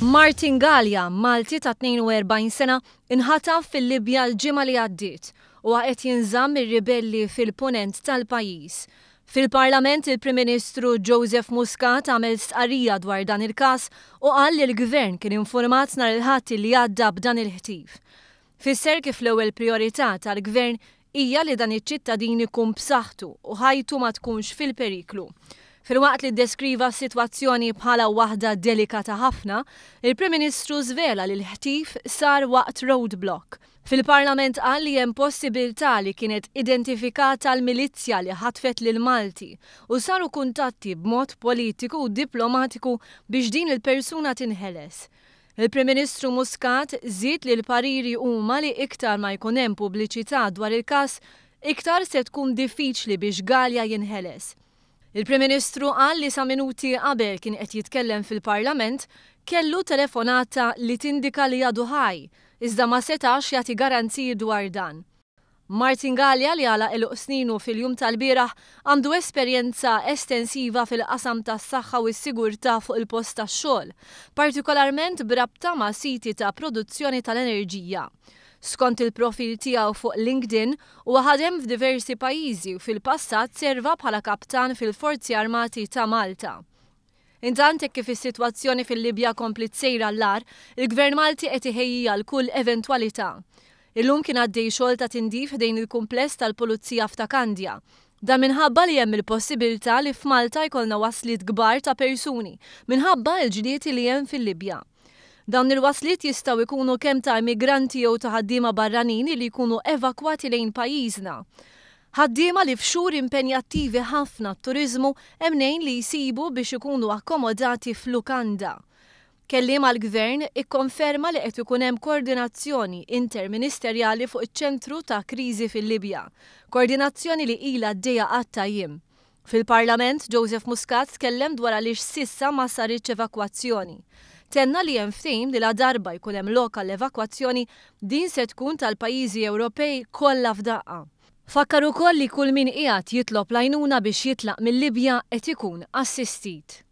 Martin Galea, Malti ta' 42 sena, inħataf fil-Libja l-ġimgħa li għaddiet. Huwa qed jinżamm mir-ribelli fil-Punent tal-pajjiż. Fil-Parlament il-Prim Ministru Joseph Muscat għamel stqarrija dwar dan il-każ u qal li l-Gvern kien infurmat nhar il-Ħadd li għadda b'dan il-ħtif. Fisser kif l-ewwel prijorità tal-Gvern hija li dan iċ-ċittadin ikun b'saħħtu u ħajtu ma tkunx fil-periklu. Filwaqt li ddeskriva s-sitwazzjoni bħala waħda delikata ħafna, il-Prim Ministru żvela li l-ħtif sar waqt roadblock. Fil-Parlament qal li hemm possibiltà li kienet identifikata l-milizzja li ħatfet lill-Malti u saru kuntatti b'mod politiku u diplomatiku biex din il-persuna tinħeles. Il-Prim Ministru Muscat żied li l-pariri huma li iktar ma jkun hemm pubbliċità dwar il-każ, iktar se tkun diffiċli biex Galea jinħeles. Il-Prim Ministru qal li sa minuti qabel kien qed jitkellem fil-Parlament kellu telefonata li tindika li għadu ħaj, iżda ma setax jagħti garanziji dwar dan. Martin Galea li għalaq għeluq sninu fil-jum tal-bieraħ, għandu esperjenza estensiva fil-qasam tas-saħħa u s-sigurtà fuq il-post tax-xogħol, partikolarment b'rabta ma' siti ta' produzzjoni tal-enerġija. Skont il-profil tiegħu fuq LinkedIn, huwa ħadem f'diversi pajjiżi u fil-passat serva bħala kaptan fil-Forzi Armati ta' Malta. Intant, hekk kif is-sitwazzjoni fil-Libja kompliet sejra għall-agħar, il-Gvern Malti qed iħejji għal kull eventwalità. Illum kien għaddej xogħol ta' tindif ħdejn il-kumpless tal-Pulizija f'Ta' Kandja. Dan minħabba li hemm il-possibilità li f'Malta jkollna wasliet kbar ta' persuni minħabba l-ġlied li hemm fil-Libja. Dawn il-wasliet jistgħu jkunu kemm ta' immigranti jew ta' ħaddiema barranin li jkunu evakwati lejn pajjiżna. Ħaddiema li f'xhur impenjattivi ħafna għat-turiżmu hemm mnejn li jsibu biex ikunu akkomodati f'lukanda. Kelliem għall-Gvern ikkonferma li qed ikun hemm koordinazzjoni interministerjali fuq iċ-ċentru ta' kriżi fil-Libja, koordinazzjoni li ilha għaddejja għadd ta' jiem. Fil-Parlament, Joseph Muscat tkellem dwar għaliex s'issa ma saritx evakwazzjoni. Tenna li hemm ftehim li ladarba jkun hemm lok għall-evakwazzjoni, din se tkun tal-pajjiżi Ewropej kollha f'daqqa. Fakkar ukoll li kull min qiegħed jitlob l-għajnuna biex jitlaq mil-Libja qed ikun assistit.